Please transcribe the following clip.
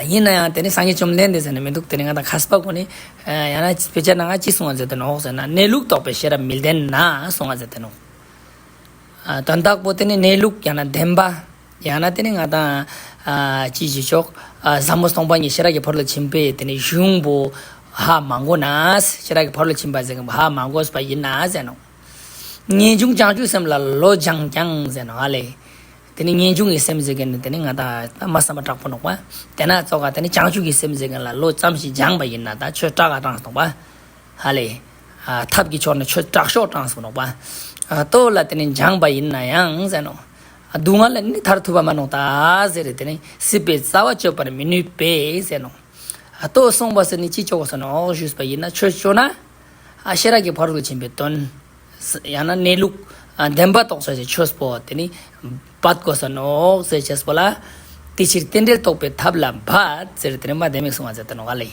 ཡིན་ན་ཡང་དེ་ནི་སངས་རྒྱས་བཅོམ་ལྡན་འདས་ཟེར་ནི་མི་འདུག་དེ་ནི་ང་དང་ཁ་སྤ་གོ་ནི། ཡང་ན་བེད་སྤྱད་ན་ང་གཅིག་གསུང་བ་ཟེར་དོན་འོག་ཟེར་ན་གནས་ལུགས་རྟོགས་པའི་ཤེས་རབ་མི་ལྡན་ན་གསུང་བ་ཟེར་དོན་འོག། དོན་དག་པོ་དེ་ནི་གནས་ལུགས་ཡང་ན་བདེན་པ། ཡང་ན་དེ་ནི་ང་དང། ཅི་ཞིག་ཆོག། བཟང་མོ་སྟོང་པ་ཉིད་ཤེས་རབ་ཀྱི་བར་ལ་ཕྱིན་པས་དེ་ནི་གཞུང་པོ། ཧ་མ་གོ་ན། ཤེས་རབ་ཀྱི་བར་ལ་ཕྱིན་པ་ཟེར་མཁན་པོ་ཧ་མ་གོ་ས་པ་ཡིན་ན་ཟེར་དོན་འོག། ངེས་འབྱུང་བྱང་ཆུབ་སེམས་ལ་ལོ་སྦྱངས་ཀྱང་ཟེར་དོན་ཨ་ལས། དེ་ནི་ངེས་འབྱུང་གི་སེམས་ཟེར་གི་ནི་དེ་ནི་ང་དང་ལྟ་མ་བསམ་པ་དྲག་པོ་འདོགས་པ། དེ་ན་རྩོ་ག་དེ་ནི་བྱང་ཆུབ་ཀྱི་སེམས་ཟེར་གི་ལ་ལོ་ཙམ་ཞིག་སྦྱངས་པ་ཡིན་ན་དང་ཆོས་གྲགས་ག་གྲངས་སུ་འདོགས་པ། ཧ་ལས། ཐབས་ཀྱི་ཕྱོགས་ནི་ཆོས་གྲགས་ཤོག་གྲངས་སུ་འདོགས་པ། སྟོབས་ལ་དེ་ནི་སྦྱངས་པ་ཡིན་ན་ཡང་ཟེར་ནོ། སྡུག་བསྔལ་ལ་ནི་མཐར་ཐུག་པ་མ་ནོ་ད་ཟེར་རེ་དེ་ནི་སྲིད་པའི་རྩ་བ་གཅོད་པར་མི་ནུས་པས་ཟེར་ནོ། ལྟོས་གསུངས་པ་སོགས་ནི་ཅི་ལྕོགས་སུ་ནོག་ཞུས་པ་ཡིན་ན་ཆོས་སྤྱོད་ན། ཤེས་རབ་ཀྱི་བར་དུ་ཕྱིན་པའི་དོན། ཡང་ན་གནས་ལུགས་བདེན་པ་རྟོགས་བྱ་ཞེས་ཆོས་སྤོ་བ་དེ་ནི་བར་དགོས་སོ་ནོག་ཟེར་བྱས་སྤོ་ལ། དེ་ཕྱིར་རྟེན་འབྲེལ་རྟོགས་པའི་ཐབས་ལ་བར་ཟེར་དེ་ནི་མ་བདེན་མེད་གསུང་བ་ཟེར་དོ་ནོག་ག་ལས།